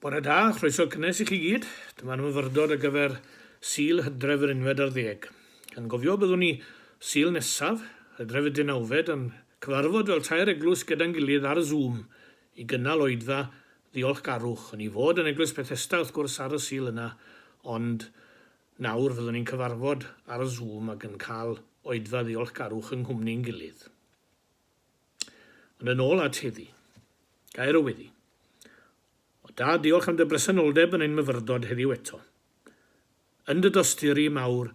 Bore da, chroeso cynnes i chi gyd. Dyma'r myfyrdod ar gyfer Sul Hydref yr unfed ar ddeg. Yn gofio, byddwn ni, Sul nesaf, Hydref y deunawfed, yn cyfarfod fel tair eglwys gyda'n gilydd ar Zoom i gynnal Oedfa Ddiolchgarwch, yn ei fod yn Eglwys Bethesda, wrth gwrs, ar y Sul yna, ond nawr fyddwn ni'n cyfarfod ar Zoom ac yn cael Oedfa Ddiolchgarwch yng nghwmni'n gilydd. Ond yn ôl at heddi. Gair o weddi. O Dad, diolch am dy bresenoldeb yn ein myfyrdod heddiw eto. Yn dy dosturi mawr,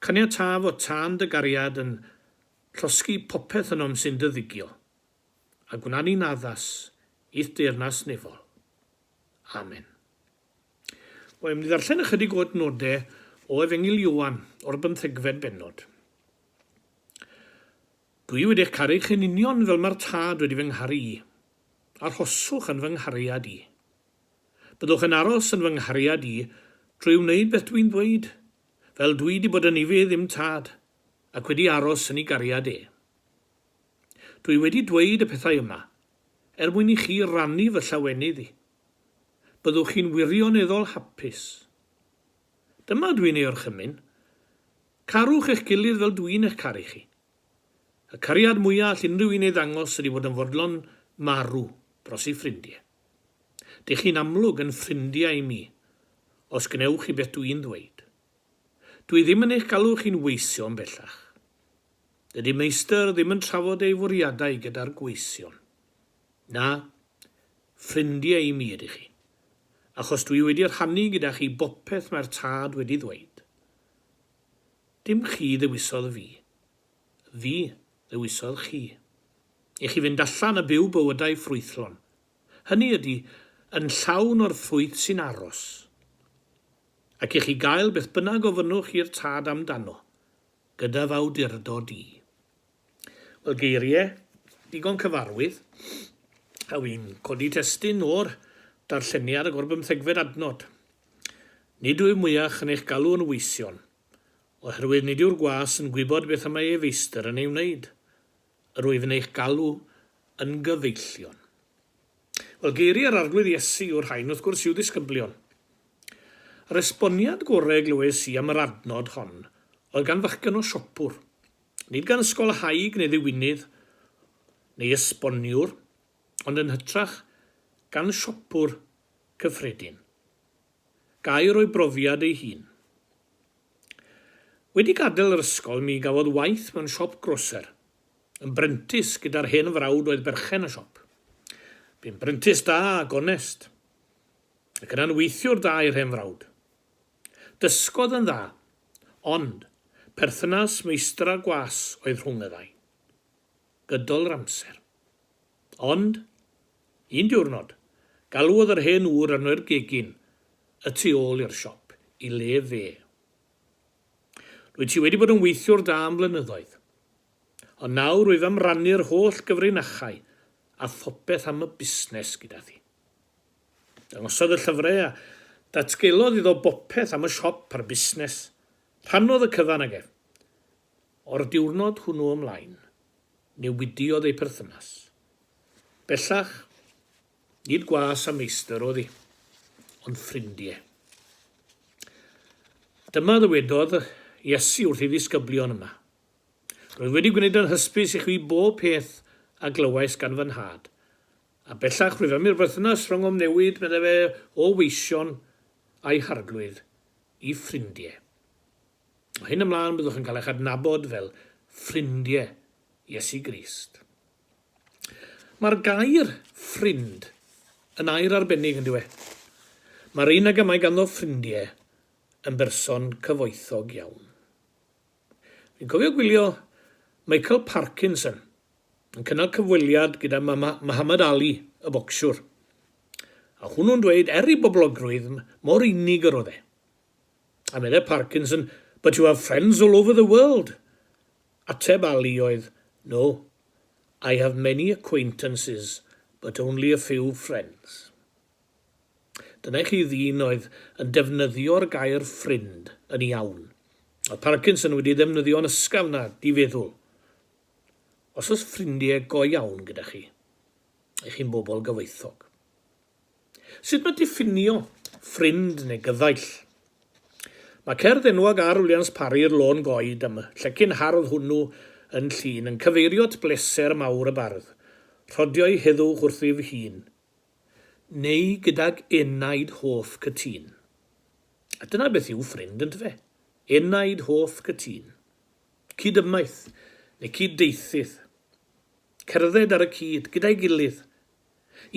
caniata fod tân dy gariad yn llosgi popeth ynom sy'n dy ddigio, a gwna ni'n addas i'th deyrnas nefol. Amen. Wel, mynd i ddarllen ychydig o adnodau o Efengyl Ioan o'r bymthegfed bennod. Dwi wedi eich caru chi'n union fel mae'r Tad wedi fy ngharu i. Arhoswch yn fy nghariad i. Byddwch yn aros yn fy nghariad i drwy wneud beth dwi'n ddweud, fel dwi 'di bod yn i fy ddim Tad, ac wedi aros yn i gariad e. Dwi wedi dweud y pethau yma, er mwyn i chi rannu fy llawenydd i. Byddwch chi'n wirioneddol hapus. Dyma dwi'n ei orchymyn. Carwch eich gilydd fel dw i'n eich caru chi. Y cariad mwya all unrhyw un ei ddangos ydi fod yn fodlon marw dros ei ffrindie. Dych chi'n amlwg yn ffrindiau i mi, os gnewch chi beth dw i'n ddweud. Dw i ddim yn eich galw chi'n weision bellach. Dydi Meistr ddim yn trafod ei fwriadau gyda'r gweision. Na, ffrindiau i mi ydych chi, achos dw i wedi rhannu gyda chi bopeth mae'r Tad wedi ddweud. Dim chi ddewisodd fi. Fi ddewisodd chi. I chi fynd allan a byw bywydau ffrwythlon. Hynny ydi, yn llawn o'r ffrwyth sy'n aros. Ac i chi gael beth bynnag ofynnwch i'r Tad amdano, gyda f'awdurdod i. Wel, geirie digon cyfarwydd, a wi'n codi testun o'r darlleniad ag o'r bymthegfed adnod. Nid wyf mwyach yn eich galw yn weision, oherwydd nid yw'r gwas yn gwybod beth y mae ei feistr yn ei wneud. Yr wyf yn eich galw yn gyfeillion. Wel, geiriau yr Arglwydd Iesu yw'r rhain, wrth gwrs, i'w ddisgyblion. Yr esboniad gorau glywais i am yr adnod hon oedd gan fachgen o siopwr. Nid gan ysgolhaig neu ddiwinydd neu esboniwr, ond yn hytrach gan siopwr cyffredin. Gair o'i brofiad ei hun. Wedi gadael yr ysgol mi gafodd waith mewn siop groser. Yn brentis gyda'r hen frawd oedd berchen y siop. Bu'n brentis da a gonest. Ac yna'n weithiwr da i'r hen frawd. Dysgodd yn dda, ond perthynas meistra gwas oedd rhwng y ddau. Gydol yr amser. Ond, un diwrnod, galwodd yr hen ŵr arno i'r gegin y tu ôl i'r siop i le fe. Rwyt ti wedi bod yn weithiwr da am flynyddoedd. Ond nawr wyf am rannu'r holl gyfrinachau a phopeth am y busnes gyda thi. Dangosodd y llyfrau a datgelodd iddo bopeth am y siop a'r busnes. Rhannodd y cyfan ag ef. O'r diwrnod hwnnw ymlaen, newidiodd eu perthynas. Bellach, nid gwas a meistr oedd hi, ond ffrindie. Dyma ddywedodd Iesu wrth ei ddisgyblion yma, Roedd wedi gwneud yn hysbys i chwi bob peth a glywais gan fy Nhad. A bellach rwyf am i'r berthynas rhyngom newid, meddai fe, o weision a'i harglwydd i ffrindie. O hyn ymlaen byddwch yn cael eich adnabod fel ffrindie Iesu Grist. Mae'r gair ffrind yn air arbennig, yn dyw e? Mae'r un ag y mae ganddo ffrindie yn berson cyfoethog iawn. Dwi'n cofio gwylio Michael Parkinson yn cynnal cyfweliad gyda Muhammad Ali, y bocsiwr, a hwnnw'n dweud er i boblogrwydd mor unig yr oedd e. A meddai Parkinson, But you have friends all over the world. Ateb Ali oedd, No, I have many acquaintances, but only a few friends. Dyna i chi ddyn oedd yn defnyddio'r gair ffrind yn iawn. Oedd Parkinson wedi ddefnyddio'n ysgafn na di-feddwl. Os oes ffrindie go iawn gyda chi, i chi'n bobl gyfoethog. Sut mae diffinio ffrind neu gyddaill? Mae cerdd enwog ar Williams Parry i'r lôn goed am y llecyn hardd hwnnw yn Llŷn yn cyfeirio at bleser mawr y bardd, rhodio'i heddwch wrthyf hun. neu gydag enaid hoff cytûn. A dyna beth yw ffrind, ynte fe? Enaid hoff cytûn. Cyd-ymaith, neu cyd-deithydd. Cerdded ar y cyd, gyda'i gilydd.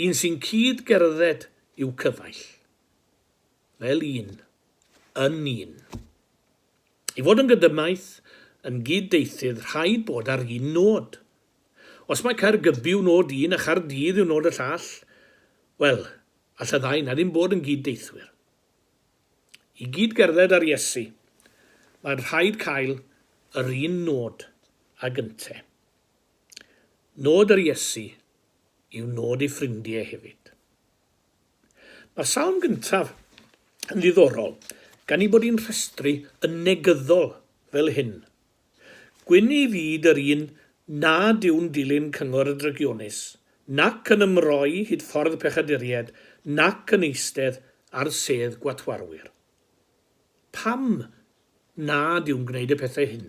Un sy'n cyd-gerdded i'w cyfaill. Fel un. Yn un. I fod yn gydymaith, yn gyd-deithydd, rhaid bod ar un nod. Os mae Caergybi yw nod un a Chaerdydd yw nod y llall, wel, all y ddau 'na ddim bod yn gyd-deithwyr. I gyd-gerdded â'r Iesu, mae'n rhaid cael yr un nod ag ynte. Nod yr Iesu yw nod ei ffrindie hefyd. Mae salm gyntaf yn ddiddorol gan ei bod hi'n rhestru yn negyddol fel hyn Gwyn i fyd yr un nad yw'n dilyn cyngor y drygionus, nac yn ymroi hyd ffordd pechaduriaid, nac yn eistedd ar sedd gwatwarwyr. Pam nad yw'n gwneud y pethau hyn?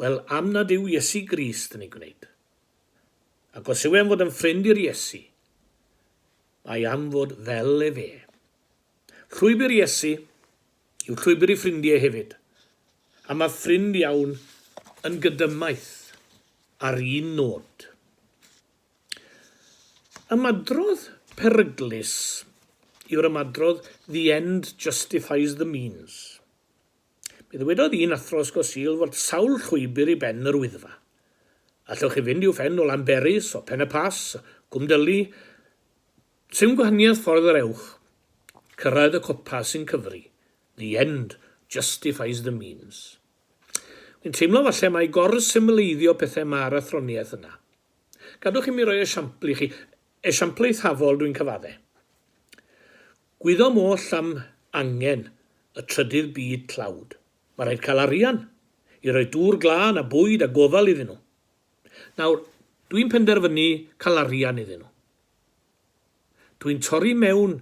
Wel, am nad yw Iesu Grist yn eu gwneud. Ac os yw e'n fod yn ffrind i'r Iesu, mae am fod fel efe. Llwybr Iesu yw llwybr i ffrindie hefyd, a mae ffrind iawn yn gydymaith ar un nod. Ymadrodd peryglus yw'r ymadrodd The end justifies the means. Mi ddywedodd un athro Ysgol Sul fod sawl llwybr i ben yr Wyddfa. Allwch chi fynd i'w phen o Lanberis, o Pen-y-Pass, Gwmdylli, Sim gwahaniaeth ffordd yr ewch, cyrraedd y copa sy'n cyfri, the end justifies the means. Wi'n teimlo falle mai gor-symleiddio pethau ma'r athroniaeth yna. Gadwch i mi roi esiampl i chi, esiampl eithafol dwi'n cyfadde. Gwyddom oll am angen y trydydd byd tlawd. Mae rhaid cael arian i roi dŵr glân a bwyd a gofal iddyn nhw. Nawr, dw i'n penderfynu cael arian iddyn nhw. Dw i'n torri mewn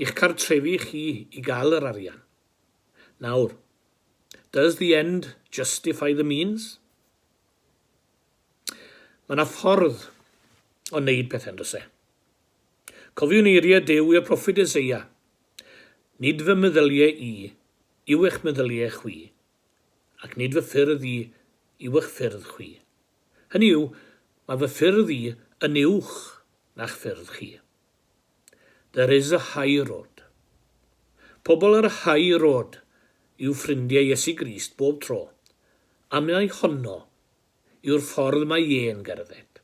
i'ch cartrefi chi i gael yr arian. Nawr, does the end justify the means? Mae yna ffordd o wneud pethau, yn does e? Cofiwn eiriau Duw i'r proffwyd Eseia, Nid fy meddyliau i yw eich meddyliau chwi, ac nid fy ffyrdd i yw'ch ffyrdd chwi. Hynny yw, mae fy ffyrdd i yn uwch na'ch ffyrdd chi. There is a high road. Pobl ar y high road yw ffrindiau Iesu Grist bob tro, a mai honno yw'r ffordd mae Ie'n gerdded.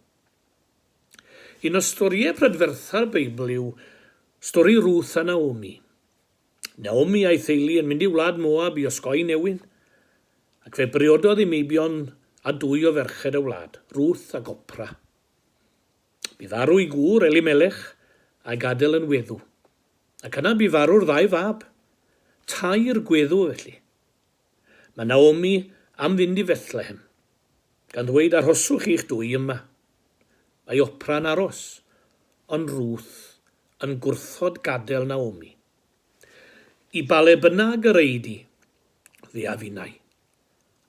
Un o storïau prydfertha'r Beibl yw stori Ruth a Naomi. Naomi a'i theulu yn mynd i wlad Moab i osgoi newyn, ac fe briododd i meibion â dwy o ferched y wlad, Ruth ac Opra. Bu farw ei gŵr, Elimelech, a'i gadael yn weddw, ac yna bu farw'r ddau fab. Tair gweddw, felly. Mae Naomi am fynd i Fethlehem, gan ddweud, Arhoswch chi'ch dwy yma. Mae Opra yn aros, ond Ruth yn gwrthod gadael Naomi. I ba le bynnag yr ei di, fe a finnau.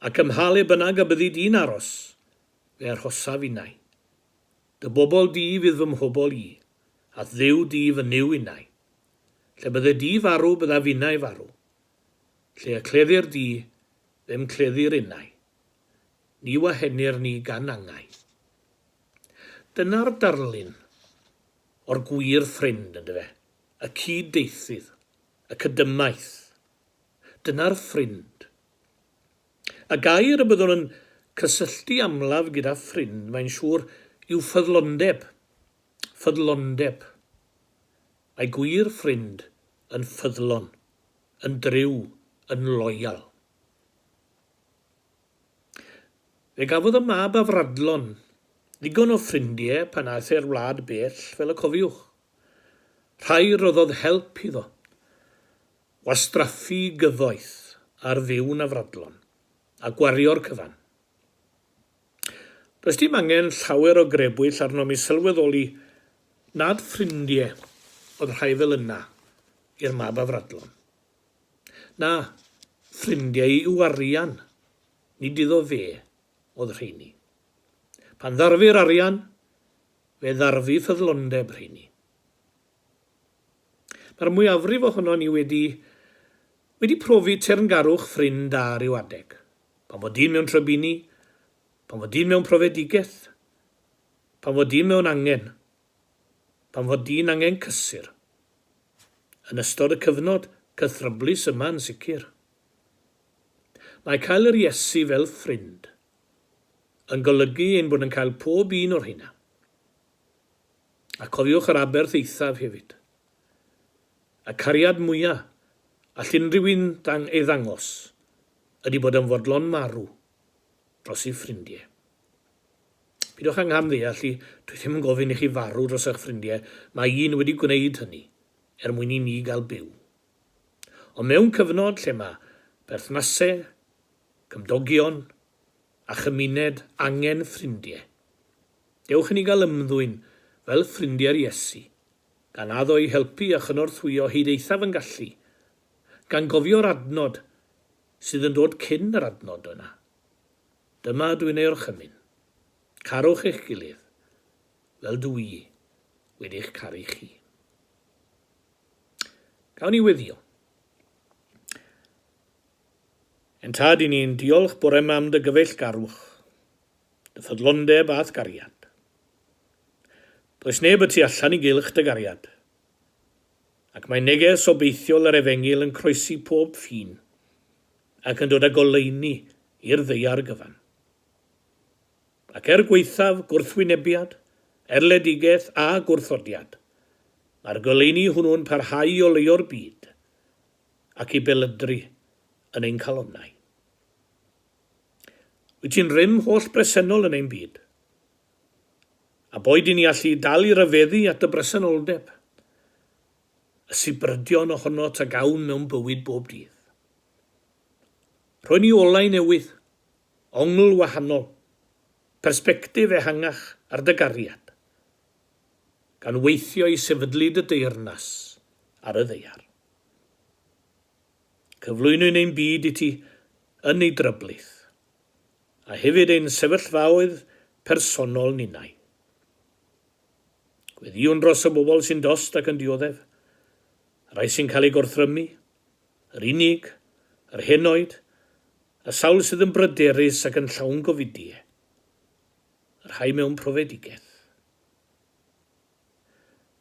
Ac ym mha le bynnag y byddi di'n aros, fe arhosa finnau. Dy bobl di fydd fy mhobl i, a'th Dduw di fy Nuw innau. Lle bydde di farw bydda finnau farw. Lle y cleddir di, fe'm cleddir innau. Ni wahenir ni gan angau. Dyna'r darlun o'r gwir ffrind, yndyfe? Y cyd-deithydd, y cydymaith. Dyna'r ffrind. Y gair y byddwn yn cysylltu amlaf gyda ffrind, mae'n siŵr, yw ffyddlondeb. Ffyddlondeb. Mae gwir ffrind yn ffyddlon, yn dryw, yn loyal. Fe gafodd y mab afradlon ddigon o ffrindie pan aeth e'r wlad bell, fel y cofiwch. Rhai roddodd help iddo wastraffu gyfoeth ar fyw'n afradlon a gwario'r cyfan. Does dim angen llawer o grebwyll arnom i sylweddoli nad ffrindie oedd rhai fel yna i'r mab afradlon. Na, ffrindiau yw arian, nid iddo fe oedd rheiny. Pan ddarfu'r arian, fe ddarfu ffyddlondeb rheiny. Mae'r mwyafrif ohonon ni wedi wedi profi teyrngarwch ffrind da ryw adeg. Pan fod dyn mewn trybini, pan fod dyn mewn profedigaeth, pan fod dyn mewn angen. pan fo dyn angen cysur. Yn ystod y cyfnod cythryblus yma yn sicr. Mae cael yr Iesu fel ffrind yn golygu ein bod yn cael pob un o rheina. A cofiwch yr aberth eithaf hefyd. Y cariad mwya all unrhyw un ei ddangos ydy bod yn fodlon marw dros ei ffrindie. Pidwch â ngham-ddeall i, dwi ddim yn gofyn i chi farw dros eich ffrindie, mae un wedi gwneud hynny, er mwyn i ni gael byw. Ond mewn cyfnod lle mae perthnase, cymdogion, a chymuned angen ffrindie, dewch i ni gael ymddwyn fel ffrindie'r Iesu, gan addo i helpu a chynorthwyo hyd eithaf yn gallu, gan gofio'r adnod sydd yn dod cyn yr adnod yna. Dyma ydw i'n ei orchymyn. Carwch eich gilydd, fel dw i wedi eich caru chi. Gawn ni weddio. Yn tad i ni'n diolch bore yma am dy gyfeill garwch, dy ffyddlondeb a'th gariad. Does neb y tu allan i gylch dy gariad, ac mae neges obeithiol yr Efengyl yn croesi pob ffin ac yn dod â goleuni i'r ddaear gyfan. Ac er gwaethaf gwrthwynebiad, erledigaeth a gwrthodiad, mae'r goleuni hwnnw'n parhau i oleio'r byd ac i belydru yn ein calonnau. Wyt ti'n rym holl bresennol yn ein byd? a boed yn ei allu i dal i ryfeddu at y bresenoldeb, y sibrydion ohonot a gawn mewn bywyd bob dydd. Rhoen ni olau newydd, ongl wahanol, persbectif ehangach ar dy gariad, gan weithio i sefydlu dy deyrnas ar y ddaear. Cyflwynwn ein byd i ti yn ei dryblith. a hefyd ein sefyllfaoedd personol ninnau. Gweddïwn dros y bobl sy'n dost ac yn dioddef, y rhai sy'n cael eu gorthrymu, yr unig, yr henoed, y sawl sydd yn bryderus ac yn llawn gofidie, y rhai mewn profedigaeth.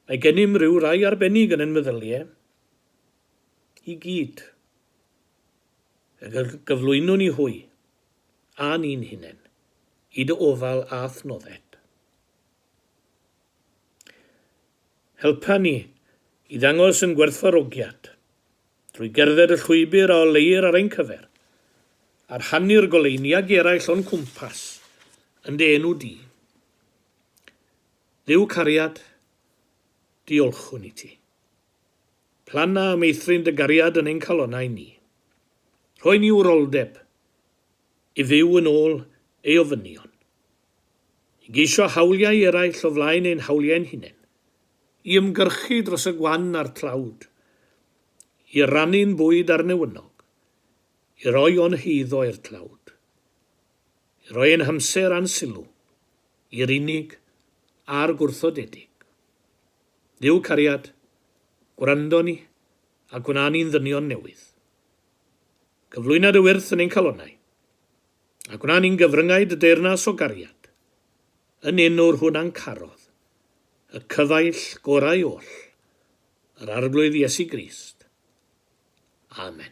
Mae gennym ryw rai arbennig yn ein meddyliau i gyd. Y gyflwynwn i hwy, a ni'n hunen, i dy ofal a adnodded. Helpa ni i ddangos yn gwerthfawrogiad, drwy gerdded y llwybr a oleir ar ein cyfer, a rhannu'r goleuni ag eraill o'n cwmpas, yn dy enw di. Dduw cariad, diolchwn i ti. Planna a meithrin dy gariad yn ein calonnau ni. Rhoi ni wroldeb i fyw yn ôl ei ofynion. I geisio hawliau eraill o flaen ein hawliau'n hunain. I ymgyrchu dros y gwan a'r tlawd. I rannu'n bwyd â'r newynog. I roi o'n heiddo i'r tlawd. I roi ein hamser a'n sylw i'r unig a'r gwrthodedig. Duw cariad, gwrando ni, a gwna ni'n ddynion newydd. Cyflwyna dy wyrth yn ein calonnau, a gwna ni'n gyfryngau dy deyrnas o gariad, yn enw'r hwn a'n carodd, y cyfaill gorau oll, yr Arglwydd Iesu Grist. Amen.